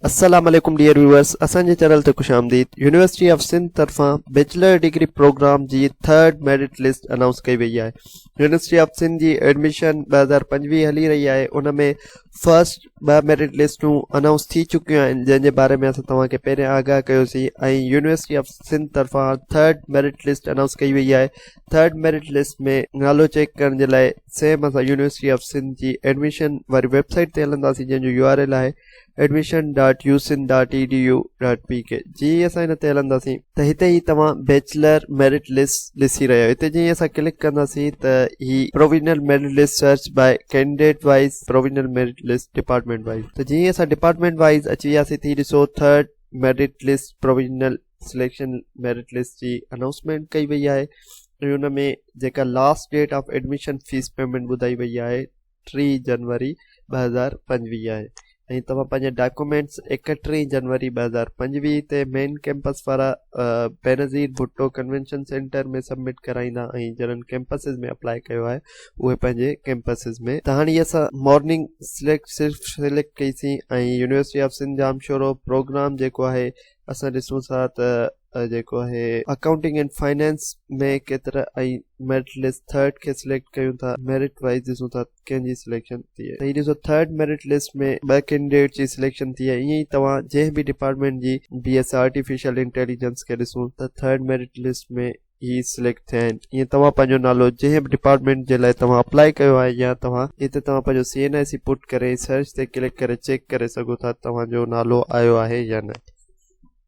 السلام عليڪم dear viewers اسان جي چينل تي خوش آمديد يونيورسٽي آف سنڌ طرفان بيچلر ڊگري پروگرام جي ٿرڊ ميرٽ لسٽ اناؤنس ڪئي وئي آهي يونيورسٽي آف سنڌ جي ايڊميشن ٻه هزار پنجويهه هلي رهي آهي ان ۾ فرسٽ ٻه ميرٽ لسٽون اناؤنس ٿي چڪيون آهن جنهن جي باري ۾ اسان توهان کي پهرين آگاهه ڪيوسين ۽ يونيورسٽي آف سنڌ طرفان ٿرڊ ميرٽ لسٽ اناؤنس ڪئي وئي آهي ٿرڊ ميرٽ لسٽ ۾ نالو چيڪ ڪرڻ جي لاء سيم اسان يونيورسٽي آف سنڌ جي ايڊميشن واري ويب سائيٽ تي هلنداسين جنهن جو يو آر ايل آهي admission dot U Sindh dot E D U dot P K جي اسان هن تي هلنداسين ته هتي هي توهان بيچلر ميرٽ لسٽ ڏسي رهيا آهيو هتي جي اسان ڪلڪ ڪنداسين ته هي provincial merit list search by candidate wise provincial merit list department wise ته جي اسان ڊپارٽمينٽ وائز اچي وياسين ته هي ڏسو third merit list provincial selection merit list جي انائونسمينٽ ڪئي وئي آهي ۽ ان ۾ جيڪا last date of admission fee payment ٻڌائي وئي آهي ٽي جنوري ٻه هزار پنجويهه آهي ۽ توهان پنهنجا ڊاڪومينٽس ايڪٽيهه جنوري ٻه هزار پنجويهه تي مين ڪيمپس وارا Benazir Bhutto convention centre ۾ submit ڪرائيندا ۽ جنن ڪيمپسز ۾ اپلاء ڪيو آهي اهي پنهنجي ڪيمپسز ۾ ته هاڻي اسان مارننگ سليڪٽ صرف سليڪٽ ڪئيسين ۽ university of Sindh Jamshoro programme جيڪو آهي اسان ڏسون ٿا ته جيڪو آهي اڪائونٽنگ اينڊ فائنانس ۾ ڪيترا ۽ ميرٽ لسٽ ٿرڊ کي سليڪٽ ڪيون ٿا ميرٽ وائز ڏسون ٿا ڪنهن جي سليڪشن ٿي آهي ڏسو ٿرڊ ميرٽ لسٽ ۾ ٻه ڪينڊيڊيٽ جي سليڪشن ٿي آهي ائين ئي توهان جنهن به ڊپارٽمينٽ جي بي ايس آرٽيفيشل انٽيليجنس کي ڏسون ته ٿرڊ ميرٽ لسٽ ۾ هي سليڪٽ ٿيا آهن ۽ توهان پنهنجو نالو جنهن به ڊپارٽمينٽ جي لاء توهان اپلائي ڪيو آهي يا توهان هتي توهان پنهنجو سي اين آء سي پٽ ڪري ۽ سرچ تي ڪلڪ ڪري چيڪ ڪري سگهو ٿا ته توهان جو نالو آيو آهي يا نه